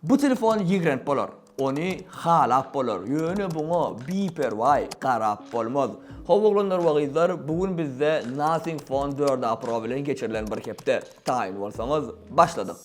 Bu telefon ýigrenp bolar. Ony halap bolar. Ýöne buňa biperwaý garap bolmaz. How oglanlar we gyzlar bu gün bizde Nothing Phone dört A Pro bilen geçirilen bir hepde. Taýyn bolsaňyz başladyk.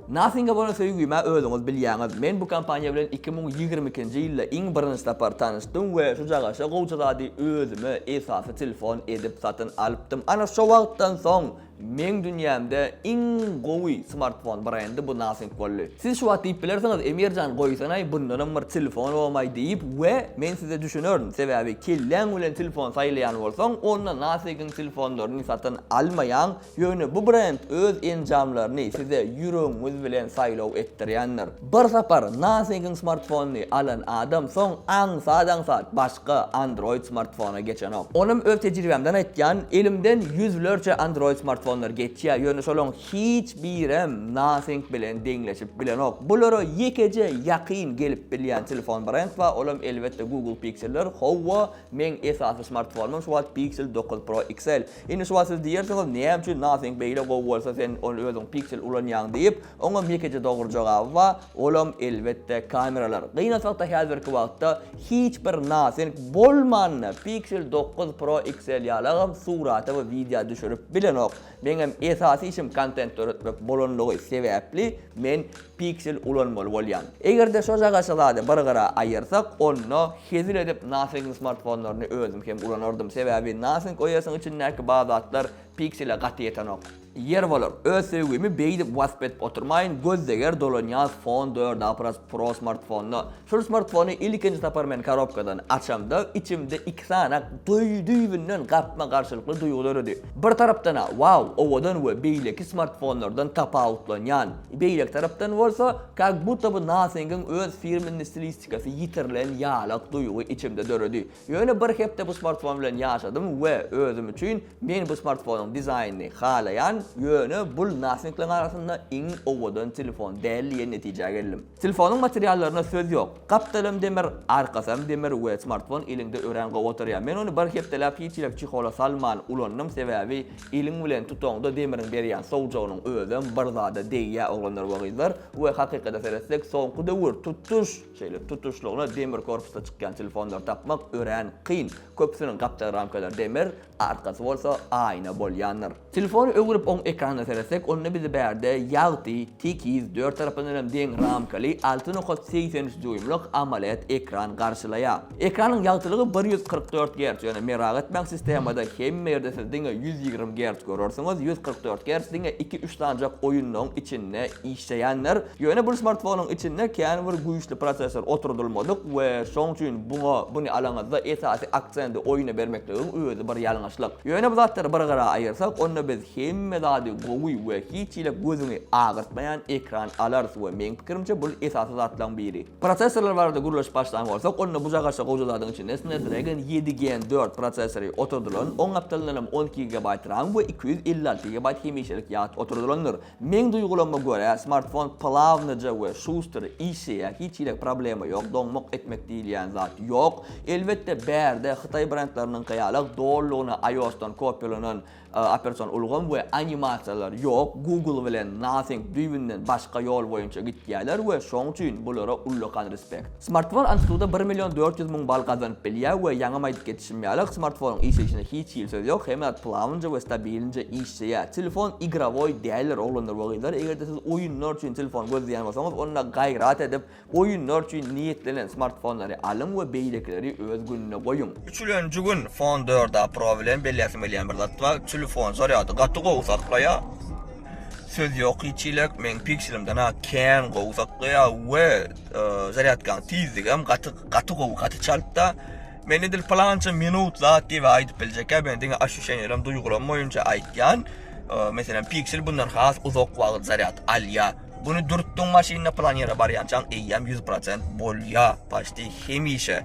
Nothing-a bolan söýgimi-ä özüňiz bilýäňiz. Men bu kompaniýa bilen iki müň ýigrimi ikinji ýylda iň birinji sapar tanyşdym we şujagaça gowja zady özüme esasy telefon edip satyn alypdym. Ana şo wagtdan soň. Meň dünýämde iň gowy smartfon brendi bu Nothing boldy. Siz şu wagt diýip bilersiňiz, Emirjan goýsanaý bundanam bir telefon bolmaý diýip we men size düşünerin, sebäbi kelläň bilen telefon saýlaýan bolsaň, onda Nothigiň telefonlaryny satyn almaýaň, ýöne bu brend öz enjamlaryny size ýüregiňiz bilen saýlaw etdirýändir. Bir sapar Nothigiň smartfonyny alan adam soň aňsat-aňsat baş. Ga Android smartfona geçenok. Onam öz tejribämden aýtýan, elimden ýüzlerçe Android smartfonlar geçýär, ýöne şolaň hiç birem Nothing bilen deňleşip bilenok. Bulara ýekeje ýakyn gelip bilýän telefon brend bar, olam elbetde Google Pixel'ler. Howwa, meň esasy smartfonymam şu wagt Pixel dokuz Pro XL. Indi şu wagt siz diýersiňiz, näme üçin Nothing beýle gowy bolsa sen ony özüň Pixel ulanýaň diýip. Oňam ýekeje dogry jogaby bar, olam elbetde kameralar. Gynansakda häzirki wagtda hiç bir nasenk bolmanda Pixel dokuz Pro XL ýalagam surata we wideo düşürip bilenok. Meňem esasy işim kontent döretmek bolanlygy sebäpli men Pixel ulanmaly bolýan. Egerde şojagaça zady bir gyra aýyrsak onda hezil edip nasenkiň smartfonlaryny özüm hem ulanardym sebäbi nasenk OS-yň içindäki bazatlar Pixel-e gaty ýetenok. Ýer bolar. Öz söýgimi beýdip wasp edip oturmaýyn, göz deger dolanýas fon dört a pras pro smartfonda. Şul smartfony ilkinji sapar men karobkadan açamda içimde iki sany dü düýbünden gapma garşylykly duýgy döredi. Bir tarapdan-a wow owadan we beýleki smartfonlardan tapawutlanýan, beýleki tarapdan bolsa kak budda by Nothing-iň öz firmenni stilistikasy ýitirilen ýalak duýgy içimde döredi. Ýöne bir hepde bu smartfon bilen ýaşadym we özüm üçin men bu smartfonyň dizaýnyny halaýan, ýöne bul nassinglaň arasynda iň owadan telefon däl diýen netijä geldim. Telefonyň materiallaryna söz ýok. Gapdalam demir, arkasam demir we smartfon eliňde örän gowy oturýar. Men ony bir hepdeläp hiç ýerik çehola salman ulandym, sebäbi eliň bilen tutaňda demiriň berýän sowjagynyň özem bir zada degýär oglanlar we gyzlar we hakykata seretsek soňky döwür tutuş Şeýle tutuşlygyna demir korpusly çykýan telefonlary tapmak örän kyn. Köpüsiniň gapjak ramkalary demir, arkasy bolsa aýna bolýandyr. Telefony öwrüp oň ekranyna seretsek, onda bizi bärde ýagty, tekiz, dört tarapyndanam deň ramkaly alty nokat segsen üç dýuýmlyk AMOLED ekran garşylaýar. Ekranyň ýagtylygy bir ýüz kyrk dört gerç, ýöne merag etmäň sistemada hemme ýerde siz diňe ýüz ýigrimi gerç görersiňiz, ýüz kyrk dört gerç diňe iki üç sanjak oýunlaryň içinde işleýändir, ýöne bul smartfonyň içinde kän bir güýçli prosessor oturdylmadyk we şoň üçin buňa buny alaňyzda esasy aksendi oýuna bermekligiň özi bir ýalňyşlyk. Ýöne bu zatlary bir gyra aýyrsak onda biz hemme zady gowy we hiç hile gözüňi agyrtmaýan ekran alarys we meň pikirimçe bul esasy zatlaň biri. Prosessorlar barada gürleşip başlan bolsak, onda buja-gaşa goja zadyň içinde Snapdragon ýedi Gen dört prosessory oturdylan, oň gapdalyndan hem on iki gigabaýt ram we iki ýüz elli alty gigabaýt hemişelik ýat oturdylandyr. Meň duýgulama görä, smartfon plawnyja we şuster işleýär, hiç hili problema ýok, doňmak etmek diýilýän zat ýok. Elbetde, bärde Hytaý brendleriniňki ýaly dollygyna iOS-dan kopýalanan Operasion ulgam we animasiýalar ýok, Google bilen Nothing düýbünden başga ýol boýunça gitýäler we şoň üçin bulara ullakan respect. Smartfon Antutuda bir million dört ýüz müň bal gazanyp bilýä we ýaňam aýdyp geçişim ýaly smartfonyň işleýşine hiç hili söz ýok hemme zat plawnyja we stabilinja işleýä telefon igrowoý däldir oglanlar we gyzlar egerde siz oýunlar üçin telefon gözleýän bolsaňyz onda gaýrat edip Oýunlar üçin niýetlenen smartfonlary alyň we beýlekileri öz gününe goýuň. Üçülenji gün Phone dörda Pro bilen belläsim gelýän bir zat bar, telefon zarýady gaty gowy saklaýar, söz ýok hiç çilek, meň Pixelimden-ä kän gowy saklaýar we zarýadkanyň tizligem gaty gaty gowy, gaty çaltda. Men edil plança minut zat diýip aýdyp biljekkä, men diňe aşuşeniýalarym, duýgulaym boýunça aýtýan. Meselem, Pixel bundan has uzak wagt zarýad alýar. Güni dürtdüň maşynda plan ýere barýançaň eýýäm ýüz prosent bolýa paçti hemişe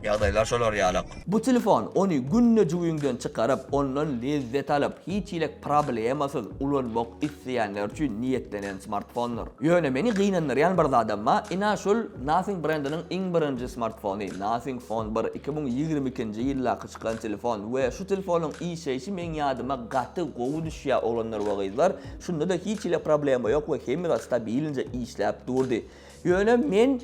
ýagdaýlar şolar ýalak. Bu telefon ony günde jübiňden çykaryp ondan lezzet alyp hiç hilek problemasyz ulanmak isleýänler üçin niýetlenen smartfondyr. Ýöne meni gynandyrýan bir zadam ba ina şul Nothing brendiniň iň birinji smartfony Nothing phone bir iki müň ýigrimi ikinji ýyldaky çykan telefon we şu telefonyň işleýşi meň ýadyma gaty gowy düşýä oglanlar we gyzlar Şunda-da hiç hili problema ýok we hemme zat stabilnje işläp durdy. Ýöne men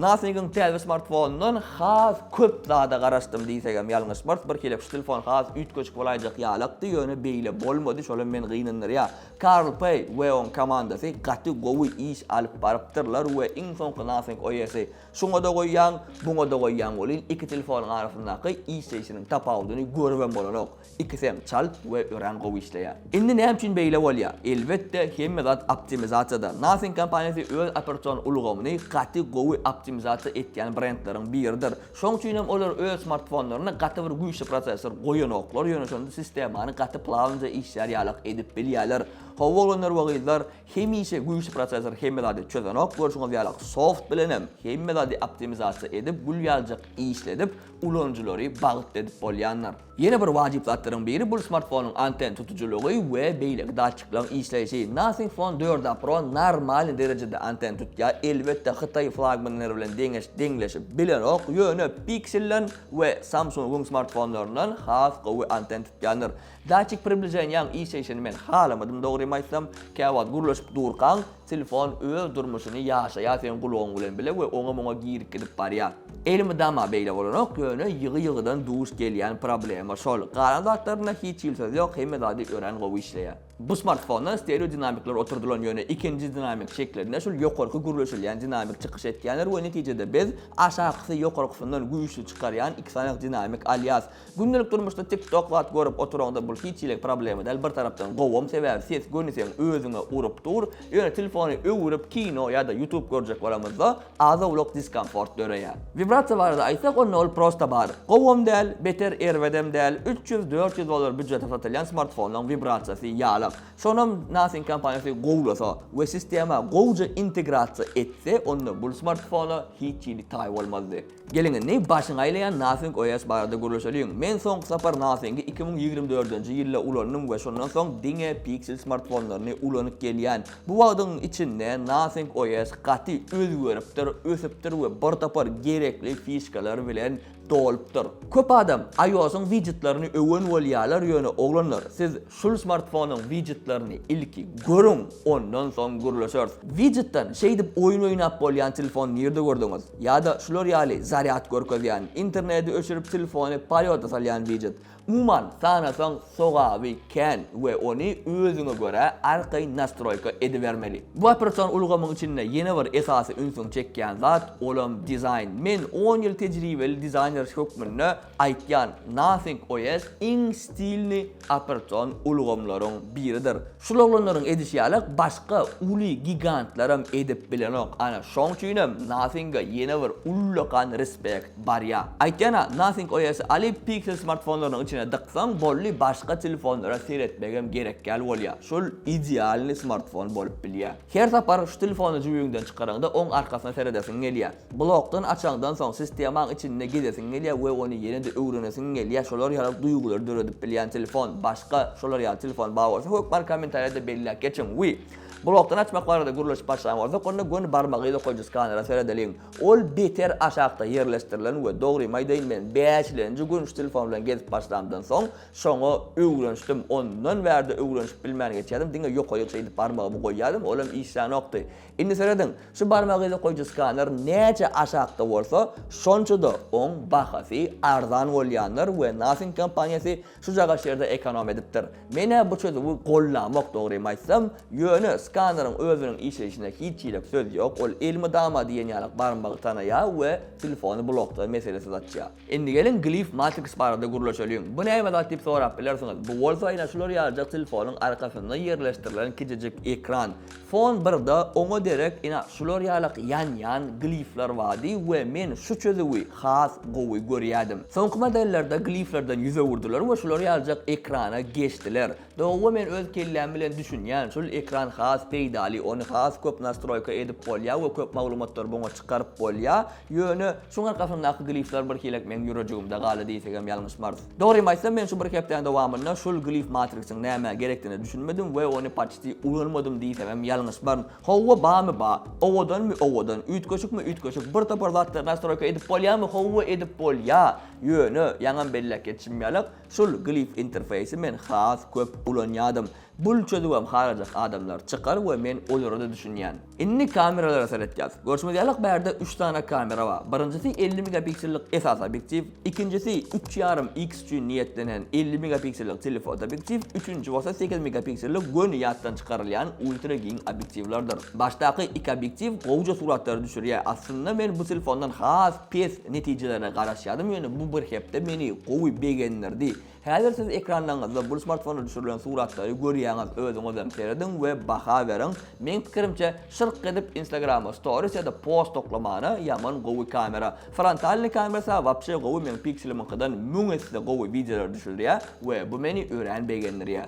Nothing-iň täze smartfonundan has köp zada garaşdym diýsegem ýalňyşmarys. Bir hili şu telefon has üýtgeşik bolaýjak ýalakdy, ýöne beýle bolmady, şolam meni gynandyrýar. Karl Pei we oň komandasy gaty gowy iş alyp barypdyrlar we iň soňky Nothing OS-y şuňa-da goýýaň, buňa-da goýýaň welin iki telefonyň arasyndaky işleýşiniň tapawudyny görübem bolanok. Ikisem çalt we örän gowy işleýär. Indi näme üçin beýle bolýar? Elbetde, hemme zat optimizasiýada. Nothing kompaniýasy öz operasion ulgamyny gaty gowy optimizasiýa etýän brendleriň biridir. Şoň üçin hem olar öz smartfonlaryna gaty bir güýçli prosessor goýanoklar, ýöne şonda sistemany gaty plawnyja işlär ýalak edip bilýärler. Hawa oglanlar we gyzlar, hemişe güýçli prosessor hemme zady çözenok, görşüňiz ýalak soft bilenem hemme zady optimizasiýa edip gül ýaljak işledip ulanyjylary bagtly edip bolýandyr. Ýene bir wajyp zatlaryň biri bul smartfonyň anten tutujylygy we beýleki datçiklaryň işleýşi. Nothing Phone dört a Pro normalny derejede anten tutýar, elbetde hytaý flagmanlary bilen deňeş deňleşip bilenok, ýöne Pixel-den we Samsung-yň smartfonlaryndan has gowy anten tutýandyr. Datçik približeniýaň işleýşini men halamadym dogrymy aýtsam, käwagt gürleşip durkaň, Telefon öz durmuşyny ýaşaýar seň gulagyň bilen bile we oňa-muňa girip gidip barýar. Elmydama beýle bolanok, ýöne ýygy-ýygydan duş gelýän problema şol. Galan zatlarynda hiç hili söz ýok, hemme zady örän gowy işleýär. Bu smartfonda stereo dinamikler oturdylan, ýöne ikinji dinamik şeklinde şul ýokarky gürleşilýän dinamik çykyş etýändir we netijede biz aşakysy ýokarkysyndan güýçli çykarýan iki sany dinamik alýas. Gündelik durmuşda tik tok zat görüp oturaňda bul hiç hili problema däl bir tarapdan gowam sebäbi ses göniseň özüňe urup dur ýöne telefony öwürip kino ýada ýutub görjek bolamyzda az owlak diskomfort döreýär. Wibrasiýa barada aýtsak onda ol prosta bar gowam däl beter erbedem däl üç ýüz dört ýüz dollar býudjete satylýan smartfonlaň wibrasiýasy ýalak şonam nothing kompaniýasy gowlasa we sistema gowja integrasiýa etse onda bul smartfona hiç hili taý bolmazdy. Geliň indi başyňy aýlaýan Nothing OS barada gürleşeliň. Men soňky sapar Nothingi iki müň ýigrimi dördünji ýylda ulandym we şondan soň diňe Pixel smartfonlaryny ulanyp gelýän. Bu wagtyň içinde Nothing OS gaty özgeripdir, ösüpdir we bir topar gerekli fişkalar bilen dolupdyr. Köp adam iOS-yň wijetlerini öwen bolýarlar ýöne oglanlar siz şul smartfonyň wijetlerini ilki görüň ondan soň gürleşeris. Wijetden şeýdip oýun oýnap bolýan telefon nirde gördüňiz? Ýa-da şular ýaly zarýad görkezýän, internedi öçürip telefony polýoda salýan wijet. Umuman, sanasaň sogaby kän we ony özüňe görä arkaýyn nastroýka edibermeli. Bu opersion ulgamyň içinde ýene bir esasy ünsüňi çekýän zat, olam dizaýn. Men on ýyl tejribeli dizaýner hökmünde aýtýan, Nothing OS iň stilny, operatsion ulgamlaryň biridir. Şul oglanlaryň edişi ýaly başga uly gigantlaram edip bilenok ana şoň üçinem Nothing-a ýene bir ullakan respect barýa. Aýtýan-a Nothing OS-y alyp Pixel smartfonlarynyň içine dyksaň bolly başga telefonlara seretmegem gerekgäl bolýa şul idealnyý smartfon bolup bilýä. Her sapar şu telefony jübüňden çykaraňda oň arkasyna seredesiň gelýär. Blokdan açaňdan soň sistemaň içinde gezesiň gelýär we ony ýene-de öwrenesiň gelýär, şolar ýaly duýgulary döredip bilýän telefon, başga şolar ýaly telefon bar bolsa hökmany kommentariýada belläp geçiň we blokdan açmak barada gürleşip başlan bolsak onda göni barmagy dokaýjy skanera seredeliň. Ol beter aşakda ýerleşdirilen we dogrymy aýdaýyn men bäşilenji gün şu telefon bilen gezip başlamdan soň Şoňa öwrenişdim, ondan bärde öwrenişip bilmän geçýärdim, diňe ýokaýyk şeýdip barmagymy goýýardym, olam işlänokdy. Indi serediň, şu barmagyny goýujy skaner näçe aşakda bolsa, şonça-da oň bahasy arzan bolýandyr we Nothing kompaniýasy şujagaş ýerde ekonom edipdir. Men-ä bu çözüwi gollamok, dogrymy aýtsam, ýöne skaneriň özüniň işleýşinde hiç hili söz ýok, ol elmydama diýen ýaly barmagy tanaýar we telefony blokda meselesiz açýar. Indi geliň Glif Matrix barada gürleşeliň. Bu näme zat diýip sorap bilersiňiz. Bu bolsa ine şular ýalyjak telefonyň arkasynda ýerleşdirilen kiçijik ekran. Fon birde oňa derek ine şular ýalak ýanýan glifler bardy we men şu çözüwi has gowy görýädim. Soňky modellerde gliflerden ýüz öwürdiler we şular ýalyjak ekrana geçdiler. Dogry men öz kelläm bilen düşünýän şul ekran has peýdaly ony has köp nastroýka edip bolýa we köp maglumatlary buňa çykaryp bolýa ýöne şuň arkasyndaky glifler birhilek meň ýürejigimde galdy diýsegem ýalňyşmarys. Dogrymy aýtsam men şu bir hepdäň dowamynda şul glif matrixyň nämä gerekdigine düşünmedim we ony paçti ulanmadym diýsemem ýalňyşmaryn. Howwa bamy ba, owadanmy owadan, üýtgeşikmi üýtgeşik bir topar zatlary nastroýka edip bolýamy howwa edip bolýa ýöne ýaňam belläp geçişim ýaly Şul glif interfeýsi men has köp ulanýadym. Bul çözüwem harajak adamlar çykar we men olarada düşünýän. Indi kameralara seretýäs. Görşüňiz ýalyk bärde üç sany kamera bar. Birinjisi elli megapiksellik esasy obýektiw, ikinjisi üç ýarym X üçin niýetlenen elli megapiksellik telefoto obýektiw, üçünji bolsa sekiz megapiksellik göni ýatdan çykarylýan ultra giň obýektiwlerdir. Başdaky iki obýektiw gowja suratlary düşürýä, aslynda men bu telefondan has Test netijelerine garaşýarym, ýöne bu bir hepde meni gowy begendirdi. Häzir siz ekranlaryňyzda bu smartfonda düşürilen suratlary görýäňiz, özüňizem serediň we baha beriň. Meň pikirimçe, şyrk edip Instagrama storis ýa-da post toklamana ýaman gowy kamera. Frontalnyý kamerasy-a wapşe gowy, meň pikselimiňkydan müň esse gowy wideolar düşürýär we bu meni örän begendirýär.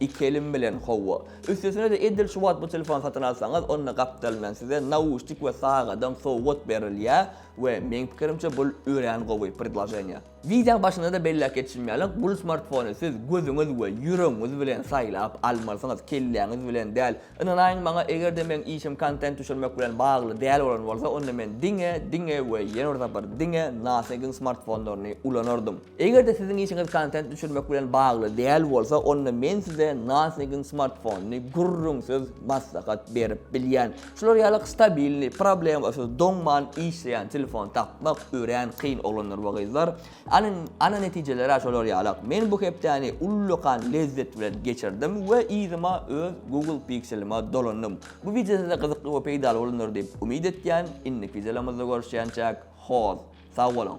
Iki elim bilen howwa. Üstesine-de edil şu wagt bu telefony satyn alsaňyz, onda gapdalyndan size nauşnik we sagadam sowgat berilýär we meň pikirimçe bul örän gowy predloženiýa. Wideoň başynda-da belläp geçişim ýaly, bul smartfony siz gözüňiz we ýüregiňiz bilen saýlap almalysyňyz, kelläňiz bilen däl. Ynanaýyň maňa, eger-de meň işim kontent düşürmek bilen bagly däl bolan bolsa, onda men diňe, diňe we ýene bir sapar diňe Nothing-iň smartfonlaryny ulanardym. Eger-de siziň işiňiz kontent düşürmek bilen bagly däl bolsa, onda men size Nothing-iň smartfonyny gürrüňsiz maslahat berip bilýän. Şular ýaly stabilnyý, problemasyz, doňman işleýän telefon tapmak örän kyn oglanlar we gyzlar. Ana, ana netijeler-ä şolar ýalak. Men bu hepdäni ullakan lezzet bilen geçirdim we yzyma öz Google Pixel-ime dolandym. Bu wideo size gyzykly we peýdaly bolandyr diýip umyt etýän. Indiki wideolarymyzda görüşýänçäk, hoz. Sag boluň.